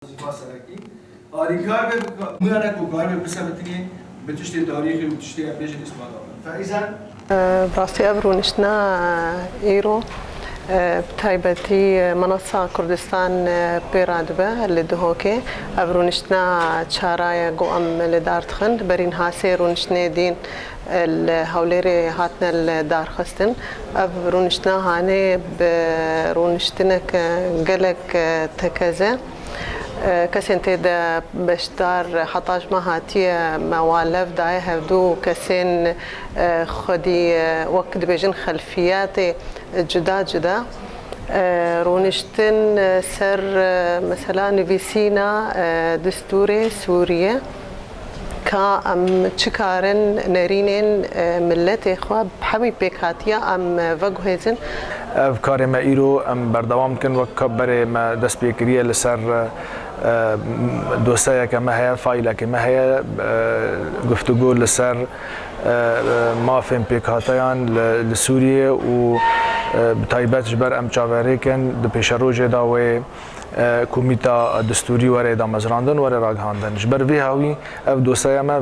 Ziva serekî, alîkar be bi kar. Mûya ne ku kar be bisebitinê, bi tiştê tarîxî û bi tiştê erdhêjê îsbata be. Ferizan. Bi rastî ev rûniştina îro bi taybetî Minassa Kurdistan pê re dibe li Dihokê. Ev rûniştina çara ye ku em li dar dixin. Berî niha sê rûniştinê dîn Li Hewlêrê hatine lidarxistin. Ev rûniştina hanê bi rûniştineke gelek tekez e. Kesên tê de beşdar heta ji me hatiye me wa lev daye hevdû kesên xwedî wek dibêjin xelfiyetê cuda cuda rûniştin ser mesela nivîsîna distûrê Sûriyê. Ka em çi kar in nerînên miletê xwe bi hemî pêkhatiya em veguhêzin. Ev karê me îro em berdewam dikin. Wek ka berê me dest pê kiriye li ser dosyayeke me heye, faîlekê me heye. Guftûgo li ser mafên pêkhateyan li Sûriyê û bi taybet ji ber em çaverêk in di pêşerojê de wê. Komîta Distûrî were damezrandin, were ragihandin. Ji ber vê hawî ev doseya me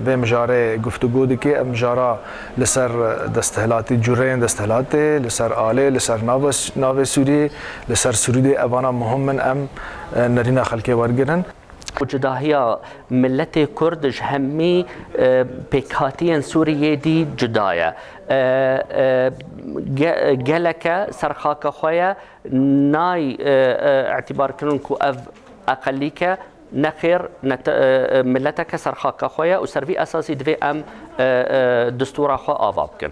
vê mijarê guftugo dike. Ev mijara li ser desthilatî, cureyên desthilatê, li ser alê, li ser navê Sûriyê, li ser sirûdê evana muhim in em nerîna xelkê wergirin. Cudahiya miletê Kurd ji hemî pêkhatiyên Sûriyê dî cuda ye. Geleke ser xaka xwe ye. Nayê îtîbarkirin ku ev eqelîk e. Nexêr, mileteke ser xaka xwe ye û ser vî esasî divê em distûra xwe ava bikin.